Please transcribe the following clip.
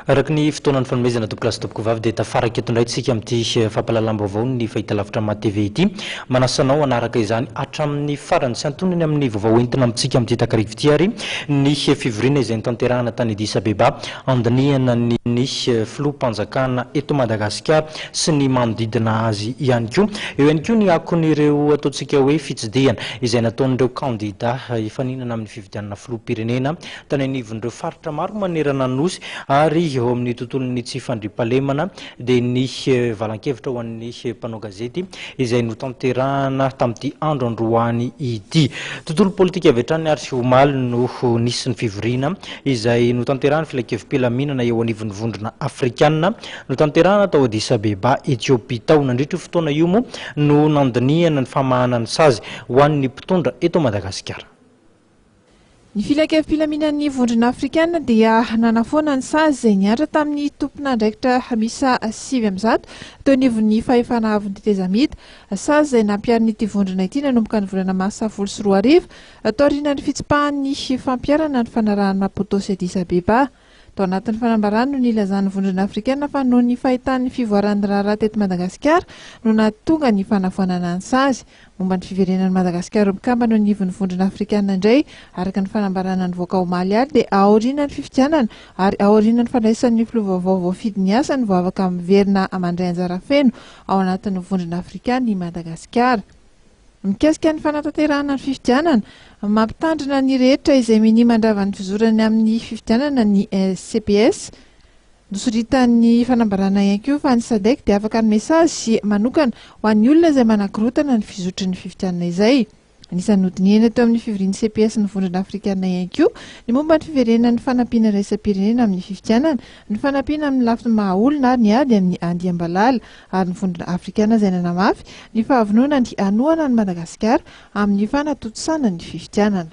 Araka ny fotoana nifanomezana tompokolahy sy tompokovavy dia tafaraka eto indray isika amin'ity eh, fampahalalam-baovao ny Fahitalavitra Maha TV ity. Manasa anao hanaraka izany hatramin'ny farany sy antonony amin'ny vaovao entina amintsika amin'ity takarivo ity ary ny eh, fivoriana izay nitanterahana tany Addis Abeba Andinihana ny ny Filoham-panjakana eto Madagasikara sy ny manodidina azy ihany koa. Eo ihany koa ny akon'ireo ataontsika hoe fitsidihana izay nataon'ireo kandidà hifaninana amin'ny fifidianana Filoham-pirenena tany anivon'ireo faritra maro manerana ny Nosy ary eo amin'ny tontolon'ny tsy fandriampahalemana dia ny valan-kevitra ho an'ny mpanao gazety izay notanterahana tamin'ity andro androany ity. Tontolo politika avy hatrany ary omaly no nisy ny fivoriana izay notanterahan'ny filankevi-pilaminana eo anivon'ny vondrona afrikana notanterahana tao Addis Abeba, Ethiopie tao. Nandritra io fotoana io moa no nandinihana ny famahana ny sazy ho an'ny mpitondra eto Madagasikara. Ny Filankevi-pilaminan'ny Vondrona Afrikana dia nanafoana ny sazy izay nihatra tamin'ny tompon'andraikitra miisa sivy amby zato teo anivon'ny fahefana avon'ny tetezamita, sazy izay nampiharin'ity vondrona ity nanomboka ny volana marsa folo sy roa arivo, taorianan'ny fitsipahan'ny fampiharana ny fanarahan'i Maputo sy Addis Abeba. Tao anatin'ny fanambarany no nilazan'ny Vondrona Afrikana fa noho ny fahitany ny fivoaran'ny raharaha teto Madagasikara no nahatonga ny fanavoanana ny sazy. Momba ny fiverenan'i Madagasikara ho mpikambana eo anivon'ny Vondrona Afrikana indray, araka ny fanambarana nivoaka omaly alina dia aorianan'ny fifidianana ary aorianan'ny fandraisan'ny filoha vaovao voafidy ny asany vao afaka miverina mandray anjara feno ao anatin'ny Vondrona Afrikana i Madagasikara. Mikasika ny fanatanterahana ny fifidianana, mampitandrina ny rehetra izay minia mandrava ny fizorany amin'ny fifidianana ny CPS. Nosoritan'ny fanambarana ihany koa fa ny Sadec dia afaka hanome sazy manokana ho an'ny olona izay manakorontana ny fizotry ny fifidianana izay. Anisan'ny nodinihana teo amin'ny fivorian'ny CPS ny Vondrona Afrikanina ihany koa ny momba ny fiverenan'ny fanampiana iraisam-pirenena amin'ny fifidianana, ny fanampiana amin'ny lafiny maha-olona ary ny ady amin'ny andiam-balala. ary ny vondrona afrikana izay nanamafy ny fahavononany hanohana an'i Madagasikara amin'ny fanatontosana ny fifidianana.